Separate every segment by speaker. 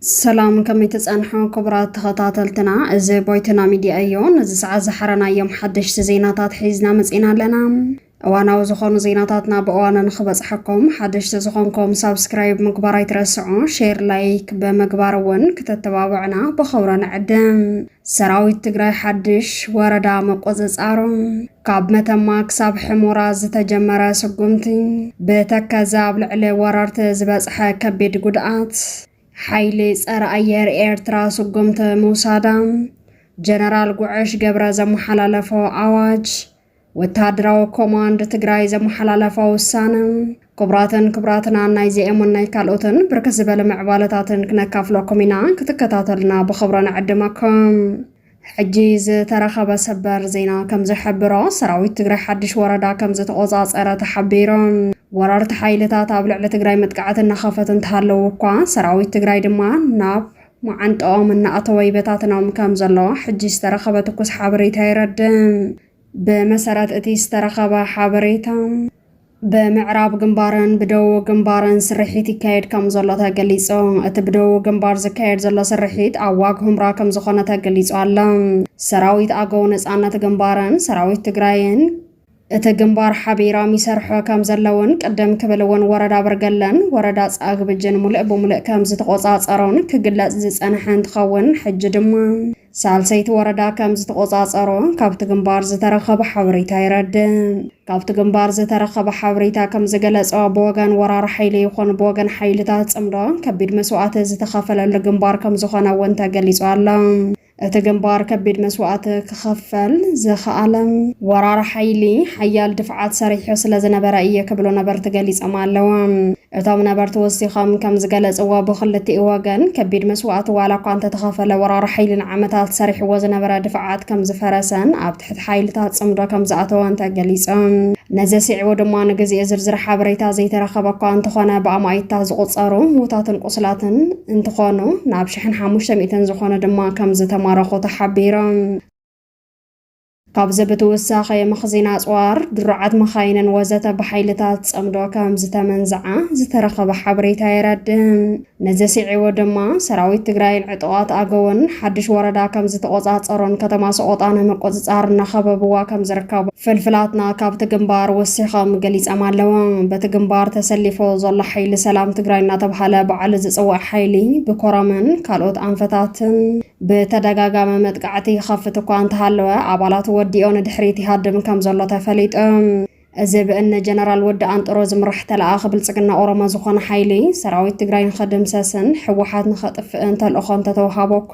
Speaker 1: ሰላም ከመይ ተፀንሑ ክቡራት ተኸታተልትና፣ እዚ ቦይትና ሚድያ እዩ። ነዚ ሰዓት ዝሓረናዮም ሓደሽቲ ዜናታት ሒዝና መፂና ኣለና። እዋናዊ ዝኾኑ ዜናታትና ብእዋኑ ንክበፅሐኩም ሓደሽቲ ዝኾንኩም ሳብስክራይብ ምግባር ኣይትረስዑ። ሼር ላይክ ብምግባር እውን ክተተባብዕና ብኸብሮ ንዕድም። ሰራዊት ትግራይ ሓድሽ ወረዳ መቆፅፃሩ ካብ መተማ ክሳብ ሕሞራ ዝተጀመረ ስጉምቲ ብተከዘ ኣብ ልዕሊ ወረርቲ ዝበፅሐ ከቢድ ጉድኣት ሓይሊ ፀረ ኣየር ኤርትራ ስጉምቲ ምውሳዳ ጀነራል ጉዕሽ ገብረ ዘመሓላለፎ ኣዋጅ ወተሃደራዊ ኮማንድ ትግራይ ዘመሓላለፋ ውሳነ ክቡራትን ክቡራትናን ናይ ዚኤሙን ናይ ካልኦትን ብርክት ዝበለ ምዕባለታትን ክነካፍለኩም ኢና ክትከታተልና ብኽብረ ንዕድመኩም ሕጂ ዝተረኸበ ሰበር ዜና ከም ዝሕብሮ ሰራዊት ትግራይ ሓድሽ ወረዳ ከም ዝተቆፃፀረ ተሓቢሩ ወረርቲ ሓይልታት ኣብ ልዕሊ ትግራይ መጥቃዕቲ እናኸፈት እንተሃለዉ እኳ ሰራዊት ትግራይ ድማ ናብ መዓንጠኦም እናኣተወ ይበታትኖም ከም ዘሎ ሕጂ ዝተረኸበ ትኩስ ሓበሬታ የረድእ። ብመሰረት እቲ ዝተረኸበ ሓበሬታ፣ ብምዕራብ ግንባርን ብደቡብ ግንባርን ስርሒት ይካየድ ከም ዘሎ ተገሊጹ። እቲ ብደቡብ ግንባር ዝካየድ ዘሎ ስርሒት ኣብ ዋግ ሁምራ ከም ዝኾነ ተገሊጹ ኣሎ። ሰራዊት ኣገው ነጻነት ግንባርን ሰራዊት ትግራይን እቲ ግንባር ሓቢራም ይሰርሖ ከም ዘለውን ቅድም ክብል እውን ወረዳ ኣበርገለን ወረዳ ጻግብጅን ሙልእ ብሙልእ ከም ዝተቖጻጸሮን ክግለጽ ዝጸንሐ እንትኸውን ሕጂ ድማ ሳልሰይቲ ወረዳ ከም ዝተቖጻጸሮ ካብቲ ግንባር ዝተረኸበ ሓበሬታ የረድእ። ካብቲ ግንባር ዝተረኸበ ሓበሬታ ከም ዝገለጾ ብወገን ወራር ሓይሊ ይኹን ብወገን ሓይልታት ጽምዶ ከቢድ መስዋእቲ ዝተኸፈለሉ ግንባር ከም ዝኾነ እውን ተገሊጹ ኣሎ። እቲ ግንባር ከቢድ መስዋእቲ ክኸፈል ዝኸኣለ ወራር ሓይሊ ሓያል ድፍዓት ሰሪሑ ስለ ዝነበረ እየ ክብሉ ነበርቲ ገሊጾም ኣለዉ። እቶም ነበርቲ ወሲኾም ከም ዝገለጽዎ ብክልቲኡ ወገን ከቢድ መስዋእቲ ዋላ እኳ እንተተኸፈለ ወራር ሓይሊ ንዓመታት ሰሪሕዎ ዝነበረ ድፍዓት ከም ዝፈረሰን ኣብ ትሕቲ ሓይልታት ጽምዶ ከም ዝኣተወን ተገሊጹ። ነዚ ኣስዒቡ ድማ ንግዜኡ ዝርዝር ሓበሬታ ዘይተረኸበ እኳ እንተኾነ ብኣማኢትታት ዝቑጸሩ ምዉታትን ቁስላትን እንትኾኑ ናብ ሽሕን ሓሙሽተ ሚእትን ዝኾኑ ድማ ከም ዝተማረኹ ተሓቢሩ። ካብዚ ብትውሳኸ መኽዚን ኣጽዋር፣ ድሩዓት መኻይንን ወዘተ ብሓይልታት ጽምዶ ከም ዝተመንዝዓ ዝተረኸበ ሓበሬታ የረድእ። ነዚ ስዒቡ ድማ ሰራዊት ትግራይን ዕጡቓት ኣገውን ሓድሽ ወረዳ ከም ዝተቖፃፀሩን ከተማ ሰቖጣ ናይ ምቁፅፃር እናኸበብዋ ከም ዝርከቡ ፍልፍላትና ካብቲ ግንባር ወሲኾም ገሊፀም ኣለዉ። በቲ ግንባር ተሰሊፉ ዘሎ ሓይሊ ሰላም ትግራይ እናተብሃለ ባዕሉ ዝፅዋዕ ሓይሊ ብኮረምን ካልኦት ኣንፈታትን ብተደጋጋሚ መጥቃዕቲ ይኸፍት እኳ እንተሃለወ ኣባላቱ ወዲኦ ንድሕሪት ይሃድም ከም ዘሎ ተፈሊጡ። እዚ ብእኒ ጀነራል ወዲ ኣንጥሮ ዝምራሕ ተለኣኣኺ ብልፅግና ኦሮሞ ዝኾነ ሓይሊ ሰራዊት ትግራይ ንኸድምሰስን ህወሓት ንኸጥፍእን ተልእኾ እንተተውሃቦ እኳ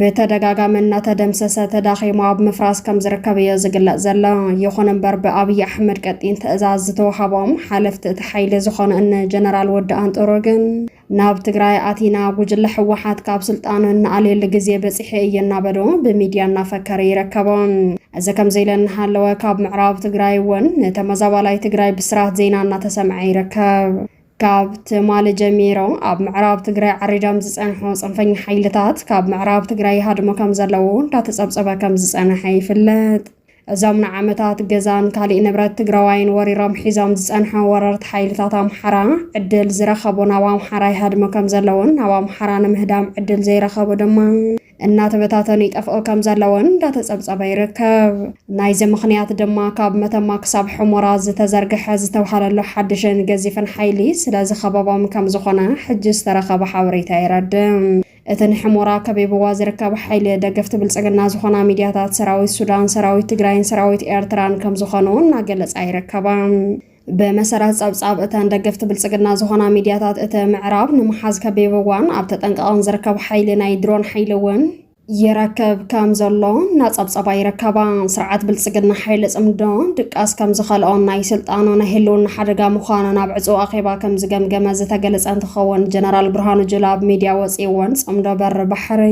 Speaker 1: ብተደጋጋሚ እናተደምሰሰ ተዳኺሙ ኣብ ምፍራስ ከም ዝርከብ እዮ ዝግለፅ ዘሎ። ይኹን እምበር ብኣብዪ ኣሕመድ ቀጢን ትእዛዝ ዝተውሃቦም ሓለፍቲ እቲ ሓይሊ ዝኾኑ እኒ ጀነራል ወዲ ኣንጥሮ ግን ናብ ትግራይ ኣቲና ጉጅለ ህወሓት ካብ ስልጣን እንኣልየሉ ግዜ በፂሐ እየ እናበሉ ብሚድያ እናፈከረ ይረከቦ። እዚ ከምዚ ኢለ እናሃለወ ካብ ምዕራብ ትግራይ እውን ንተመዛባላይ ትግራይ ብስራት ዜና እናተሰምዐ ይርከብ። ካብ ትማሊ ጀሚሮ ኣብ ምዕራብ ትግራይ ዓሪዶም ዝጸንሑ ጽንፈኛ ሓይልታት ካብ ምዕራብ ትግራይ ይሃድሙ ከም ዘለዉ እንዳተጸብጸበ ከም ዝጸንሐ ይፍለጥ። እዞም ንዓመታት ገዛን ካሊእ ንብረት ትግራዋይን ወሪሮም ሒዞም ዝፀንሑ ወረርቲ ሓይልታት ኣምሓራ ዕድል ዝረኸቡ ናብ ኣምሓራ ይሃድሙ ከም ዘለዉን ናብ ኣምሓራ ንምህዳም ዕድል ዘይረኸቡ ድማ እናተበታተኑ ይጠፍኡ ከም ዘለዉን እንዳተፀብፀበ ይርከብ። ናይዚ ምኽንያት ድማ ካብ መተማ ክሳብ ሑሞራ ዝተዘርገሐ ዝተብሃለሉ ሓድሽን ገዚፍን ሓይሊ ስለዝኸበቦም ከም ዝኾነ ሕጂ ዝተረኸበ ሓበሬታ የረድእ። እቲ ንሕሞራ ከቢብዋ ዝርከብ ሓይሊ ደገፍቲ ብልፅግና ዝኾና ሚድያታት ሰራዊት ሱዳን፣ ሰራዊት ትግራይን ሰራዊት ኤርትራን ከምዝኾኑ እናገለፃ ይርከባ። ብመሰረት ፀብፃብ እተን ደገፍቲ ብልፅግና ዝኾና ሚድያታት እቲ ምዕራብ ንምሓዝ ከቢብዋን ኣብ ተጠንቀቐን ዝርከብ ሓይሊ ናይ ድሮን ሓይሊ እውን ይረክብ ከምዘሎ እናፀብፀባ ይርከባ። ስርዓት ብልፅግና ሓይሊ ፅምዶ ድቃስ ከምዝኸልኦን ናይ ስልጣኑ ናይ ህልውና ሓደጋ ምዃኑን ኣብ ዕፁው ኣኼባ ከምዝገምገመ ዝተገለፀ ክኸውን ጀነራል ብርሃኑ ጁላ ኣብ ሚድያ ወፂእዎን ፅምዶ በሪ ባሕሪ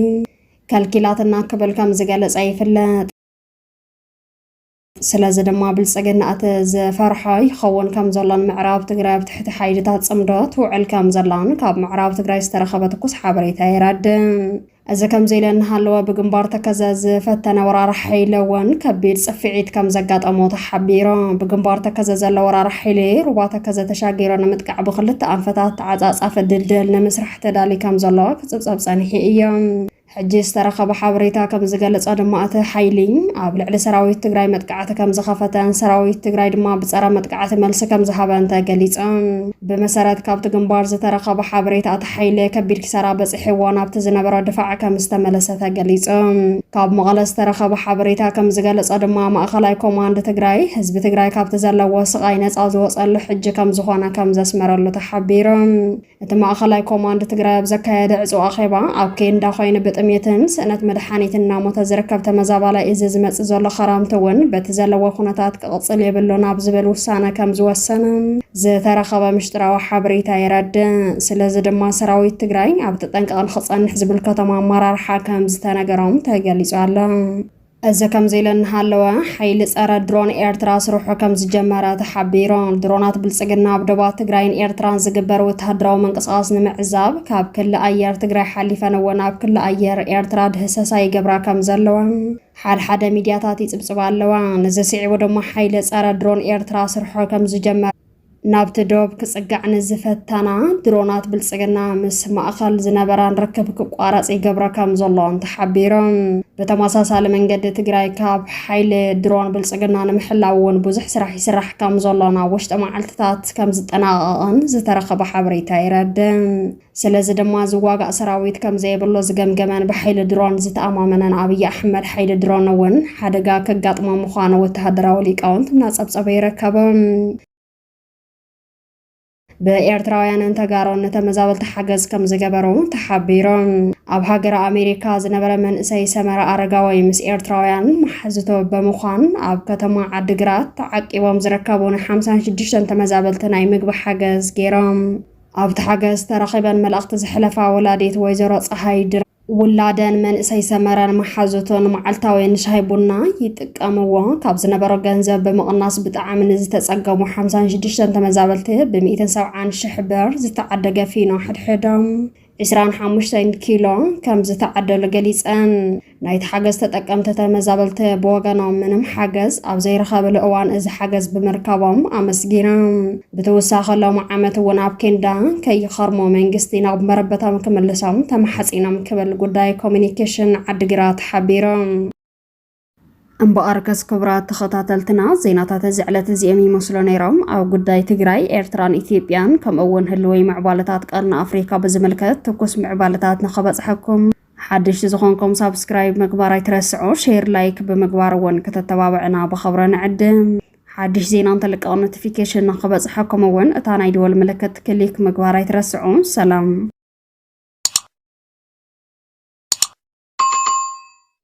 Speaker 1: ከልኪላትና ክብል ከም ዝገለፀ ይፍለጥ። ስለዚ ድማ ብልፅግና እቲ ዝፈርሖ ይኸውን ከም ዘሎን ምዕራብ ትግራይ ኣብ ትሕቲ ሓይልታት ፅምዶ ትውዕል ከም ዘላን ካብ ምዕራብ ትግራይ ዝተረኸበ ትኩስ ሓበሬታ የረድእ። እዚ ከምዚ ኢለ እናሃለወ ብግንባር ተከዘ ዝፈተነ ወራር ሓይለ ወን ከቢድ ጽፍዒት ከም ዘጋጠሞ ተሓቢሮ። ብግንባር ተከዘ ዘሎ ወራር ሓይሌ ሩባ ተከዘ ተሻጊሮ ንምጥቃዕ ብክልተ ኣንፈታት ተዓጻጻፊ ድልድል ንምስራሕ ተዳሊ ከም ዘሎ ክጽብጸብ ጸኒሑ እዮ። ሕጂ ዝተረኸበ ሓበሬታ ከም ዝገልጾ ድማ እቲ ሓይሊ ኣብ ልዕሊ ሰራዊት ትግራይ መጥቃዕቲ ከም ዝኸፈተን ሰራዊት ትግራይ ድማ ብጸረ መጥቃዕቲ መልሲ ከም ዝሃበን ተገሊጾም። ብመሰረት ካብቲ ግንባር ዝተረኸበ ሓበሬታ ሓይለ ከቢድ ኪሳራ በፂሕዎ ናብቲ ዝነበሮ ድፋዕ ከም ዝተመለሰ ተገሊፁ። ካብ መቐለ ዝተረኸበ ሓበሬታ ከም ዝገለፆ ድማ ማእኸላይ ኮማንድ ትግራይ ህዝቢ ትግራይ ካብቲ ዘለዎ ስቓይ ነፃ ዝወፀሉ ሕጂ ከም ዝኾነ ከም ዘስመረሉ ተሓቢሩ። እቲ ማእኸላይ ኮማንድ ትግራይ ኣብ ዘካየደ ዕፁው ኣኼባ ኣብ ኬንዳ ኮይኑ ብጥሜትን ስእነት መድሓኒትን እናሞተ ዝርከብ ተመዛባላይ እዚ ዝመፅእ ዘሎ ኸረምቲ እውን በቲ ዘለዎ ኩነታት ክቕፅል የብሉን ኣብ ዝብል ውሳነ ከም ዝወሰነ ዝተረኸበ ምሽጥራዊ ሓበሬታ የረድእ። ስለዚ ድማ ሰራዊት ትግራይ ኣብ ተጠንቀቕ ንክፀንሕ ዝምልከቶም ኣመራርሓ ከምዝተነገሮም ተገሊፁ ኣሎ። እዚ ከምዚ ኢሉ እናሃለወ ሓይሊ ፀረ ድሮን ኤርትራ ስርሑ ከምዝጀመረ ተሓቢሩ። ድሮናት ብልፅግና ኣብ ዶባት ትግራይን ኤርትራን ዝግበር ወተሃደራዊ ምንቅስቓስ ንምዕዛብ ካብ ክሊ ኣየር ትግራይ ሓሊፈን እውን ኣብ ክሊ ኣየር ኤርትራ ድህሰሳ ይገብራ ከምዘለዋ ሓድሓደ ሚድያታት ይጽብጽባ ኣለዋ። ንዚ ስዒቡ ድማ ሓይሊ ጸረ ድሮን ኤርትራ ስርሖ ከም ዝጀመረ፣ ናብቲ ዶብ ክጽጋዕ ንዝፈተና ድሮናት ብልጽግና ምስ ማእከል ዝነበረን ርክብ ክቋረጽ ይገብሮ ከም ዘሎን ተሓቢሩ። ብተመሳሳሊ መንገዲ ትግራይ ካብ ሓይሊ ድሮን ብልጽግና ንምሕላው እውን ብዙሕ ስራሕ ይስራሕ ከም ዘሎን ኣብ ውሽጢ መዓልትታት ከም ዝጠናቐቐን ዝተረኸበ ሓበሬታ የረድእ። ስለዚ ድማ ዝዋጋእ ሰራዊት ከምዘየብሉ ዝገምገመን ብሓይሊ ድሮን ዝተኣማመነን ኣብይ ኣሕመድ ሓይሊ ድሮን እውን ሓደጋ ከጋጥሞ ምዃኑ ወተሃደራዊ ሊቃውንት እናጸብጸበ ይርከብ። ብኤርትራውያንን ተጋሮን ንተመዛበልቲ ሓገዝ ከም ዝገበሩ ተሓቢሩ። ኣብ ሃገረ ኣሜሪካ ዝነበረ መንእሰይ ሰመረ ኣረጋዊ ምስ ኤርትራውያን መሓዝቶ ብምዃን ኣብ ከተማ ዓዲግራት ተዓቂቦም ዝርከቡ ን56 ተመዛበልቲ ናይ ምግቢ ሓገዝ ገይሮም። ኣብቲ ሓገዝ ተረኺበን መልእኽቲ ዘሕለፋ ወላዲት ወይዘሮ ፀሃይ ድረ ውላደን መንእሰይ ሰመረን መሓዙቱን መዓልታዊ ንሻሂ ቡና ይጥቀምዎ ካብ ዝነበሮ ገንዘብ ብምቕናስ ብጣዕሚ ንዝተፀገሙ ሓምሳን ሽዱሽተን ተመዛበልቲ ብሚእትን ሰብዓን ሽሕ ብር ዝተዓደገ ፊኖ ሕድሕዶም ዕስራን ሓሙሽተን ኪሎ ከም ዝተዓደሉ ገሊፀን። ናይቲ ሓገዝ ተጠቀምቲ ተመዛበልቲ ብወገኖም ምንም ሓገዝ ኣብ ዘይረኸብሉ እዋን እዚ ሓገዝ ብምርካቦም ኣመስጊኖም ብተወሳኺ ሎሚ ዓመት እውን ኣብ ኬንዳ ከይኸርሙ መንግስቲ ናብ መረበቶም ክምልሶም ተማሓፂኖም ክብል ጉዳይ ኮሚኒኬሽን ዓዲግራት ሓቢሮም። እምበኣር ከስ ክቡራት ተኸታተልትና ዜናታት እዚ ዕለት እዚኦም ይመስሉ ነይሮም። ኣብ ጉዳይ ትግራይ፣ ኤርትራን ኢትዮጵያን ከምኡ'ውን ህልወይ ምዕባለታት ቀርኒ ኣፍሪካ ብዝምልከት ትኩስ ምዕባለታት ንኸበፅሐኩም ሓደሽቲ ዝኾንኩም ሳብስክራይብ ምግባር ኣይትረስዑ፣ ሼር ላይክ ብምግባር እውን ክተተባብዕና ብኸብረ ንዕድም። ሓድሽ ዜና እንተልቀቕ ኖቲፊኬሽን ንክበፅሐኩም እውን እታ ናይ ደወል ምልክት ክሊክ ምግባር ኣይትረስዑ። ሰላም